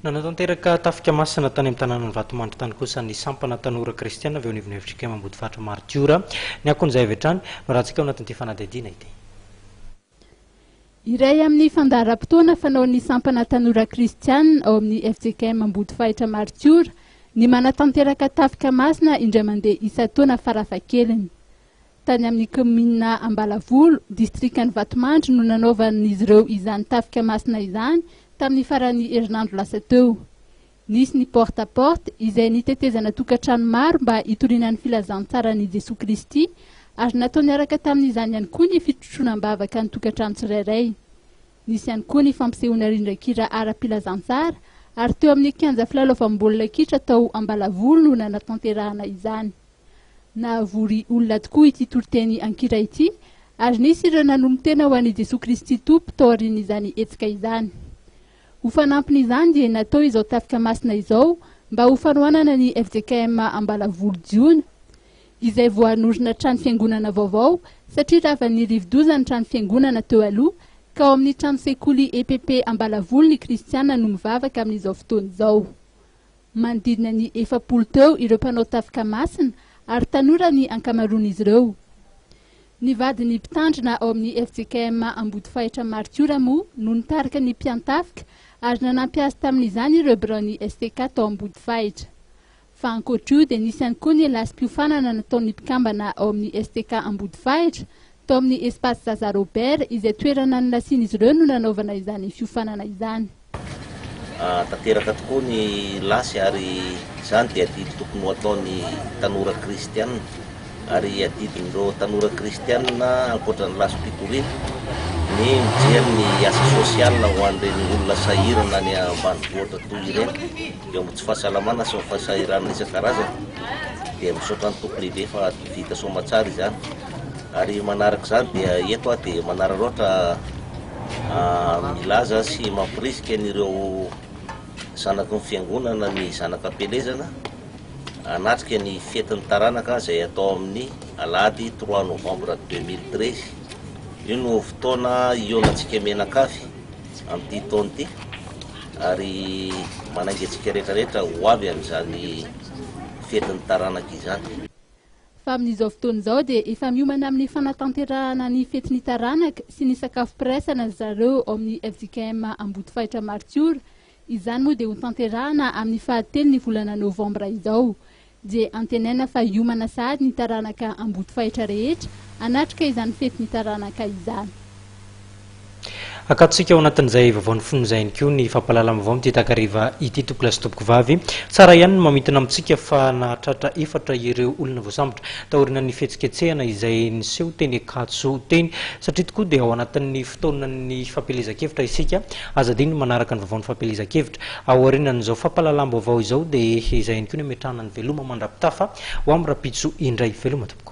Nanatanteraka tafika masina tany amin'ny tanànan'i Vatomandry tany kosa ny sampana tanora kristiana avy eo anivon'ny FJKM Ambodifaritra Maritiora. Ny akon'izay avy hatrany no arantsika ao anatin'ity fanadihadiana ity. Iray amin'ny fandaharam-potoana fanaon'ny sampana tanora kristiana ao amin'ny FJKM Ambodifahitra Maritiora ny manatanteraka tafika masina indray mandeha isan-taona farafahakeliny. Tany amin'ny kaominina Ambalavolo, distrikan'i Vatomandry no nanaovan'izy ireo izany tafika masina izany tamin'ny faran'ny herinandro lasa teo. Nisy ny porte à porte izay nitetezana tokantrano maro mba hitoriana ny filazantsaran'i Jesoa Kristy ary natao niaraka tamin'izany ihany koa ny fitrotroana am-bavaka ny tokantrano tsirairay. Nisy ihany koa ny fampisehoana rindran-kira ara-pilazantsara ary teo amin'ny kianja filalaovam-baolina kitra tao Ambalavolo no nanatanterahana izany. Nahavory olona tokoa ity toriteny an-kira ity, ary nisy ireo nanolon-tena ho an'i Jesoa Kristy Tompo tao aorian'izany hetsika izany. Ho fanampin'izany dia natao izao tafika masina izao mba ho fanohanana ny fjkm Ambalavolo Jiona, izay vao hanorina trano fiangonana vaovao satria ravan'ny rivodoza ny trano fiangonana teo aloha ka ao amin'ny trano sekoly epp Ambalavolo ny kristiana no mivavaka amin'izao fotoana izao. Manodidina ny efapolo teo ireo mpanao tafika masina ary tanora ny ankamaroan'izy ireo. Ny vadin'ny mpitandrina ao amin'ny fjkm Ambodifahitra Martiora moa no nitarika ny mpiantafika ary nanampy azy tamin'izany ireo biraon'ny STK tao Ambodifahitra. Fa ankoatr'io dia nisy ihany koa ny lasim-piofanana nataon'ny mpikambana ao amin'ny STK Ambodifahitra tao amin'ny Espace Zaza Robert izay toerana nilasian'izy ireo no nanaovana izany fiofanana izany. Tanteraka tokoa ny lasy ary izany dia adidy tokony ho ataon'ny tanora kristiana ary adidin'ireo tanora kristiana ankoatra ny lasim-pikoriana ny mijery ny asa sosiala ho an'ireny olona sahirana any ambanivohitra toy ireny eo amin'ny tsy fahasalamana sy ny fahasahiranana isan-karazany dia misaotra ny Tompo lehibe fa vita soamantsara izany ary manaraka izany dia eto aho dia manararaotra Milaza sy mampirisika an'ireo zanaky ny Fiangonana ny Zanaka Ampielezana hanatrika ny fetin'ny taranaka izay hatao amin'ny Alahady trois novembre deux mille treize. Io no fotoana hihaonantsika mianakavy amin'ity taona ity ary manainga antsika rehetra rehetra ho avy amin'izany fetin'ny taranaka izany. fa amin'izao fotoana izao dia efa miomana amin'ny fanatanterahana ny fetin'ny taranaka sy ny sakafo firaisana ry zareo ao amin'ny fjkm Ambodifahitra Martiora, izany moa dia hotanterahana amin'ny fahatelon'ny volana novambra izao. Dia antenaina fa hiomana sahady ny taranaka Ambodifahitra rehetra hanatrika izany fetin'ny taranaka izany. Akatontsika ao anatin'izay vaovaon'ny fony izay ihany koa ny fampahalalana vaovao amin'ity takariva ity tompokolahy sy tompokovavy. Tsara ihany ny mamintina amintsika fa nahatratra efatra ireo olona voasambotra taorinan'ny fihetsiketsehana izay niseho teny Ankatso teny satria tokoa dia ao anatin'ny fotoanan'ny fampielezan-kevitra isika. Aza adino ny manaraka ny vaovaon'ny fampielezan-kevitra. Aorianan'izao fampahalalam-baovao izao dia izay ihany koa ny ametrahana ny veloma mandrapitafa ho amin'ny rahampitso indray. Veloma tompoko.